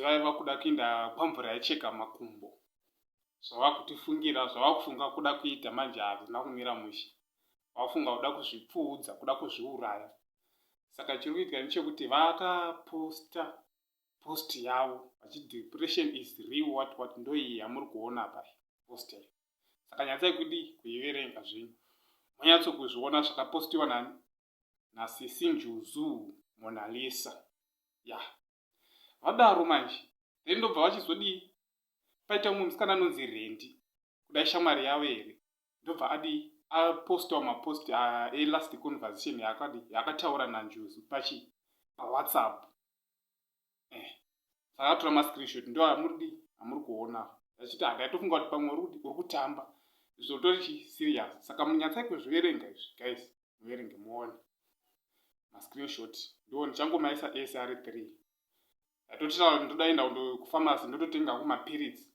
vaiva kuda kuinda kwamvura yaicheka makumbo zvavakutifungira zvavakufunga kuda kuita manje hazvina kumira mushe vafunga kuda kuzvipfuudza kuda kuzviuraya saka chiri kuitika nechekuti vakaposta post yavo vachi depression is real what what ndoiyi yamuri kuona apa post yayo saka nyatsai kudi kuiverenga zvenyu monyatso kuzviona zvakapostiwa nani nasisi njuzu monalisa ya yeah. vadaro manje then ndobva vachizodii paita umwe musikana anonzi rendi kudai shamwari yavo here ndobva adii apostawo mapost elast conversation yaakadi yaakataura nanjuzu pachi pawhatsapp eh akatora ma screenshot ndo amuridi amuri kuona achiti hada tofunga kuti pamwe uri kutamba zvotori chi serious saka munyatsai kuzviverenga izvi guys muverenge muone ma screenshot ndo ndichangomaisa ese ari three atotira ndoda enda kundo kufamasi ndototenga hangu mapiritsi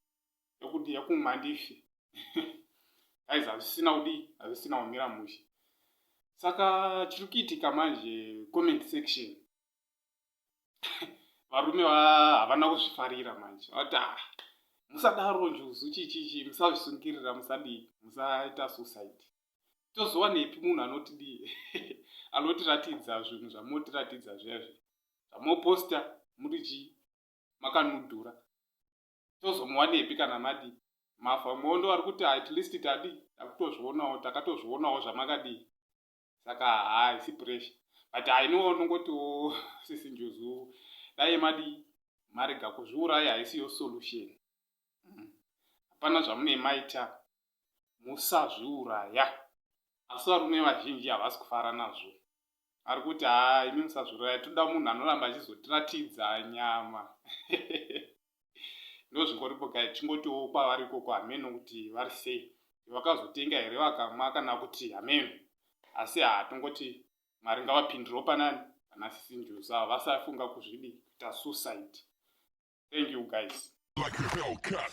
ekuti ekumwa ndife guys hazvisina kudii hazvisina kumira mushe saka chiri kuitika manje comment section varume havana kuzvifarira manje vati ah, musadaro njuzu chichichi musazvisungirira musadii musaita suicide tozowanepi munhu anotidii anotiratidza zvinhu zvamotiratidza zvezvi zvamoposta muri chii makanudhura tozomuwanepi kana madii mafa mondo ari kuti at least tadii takutozvionawo takatozvionawo zvamakadii saka haisi pressure but i know unongotiwo sisi njuzu dai madi marega kuzviuraya haisiyo solution mm. hapana zvamunei maita musazviuraya asi varume vazhinji havasi kufara nazvo ari kuti haa imi musazviuraya toda munhu anoramba achizotiratidza nyama ndozvingoripo guy chingotiwo kwavari ikoko hameno kuti vari sei vakazotenga here vakamwa kana kuti hameno asi haa tongoti mwari ngavapindirewo panani vana sisi njuzu ava vasafunga kuzvidi kuita suicide thank you guys like a bell cut.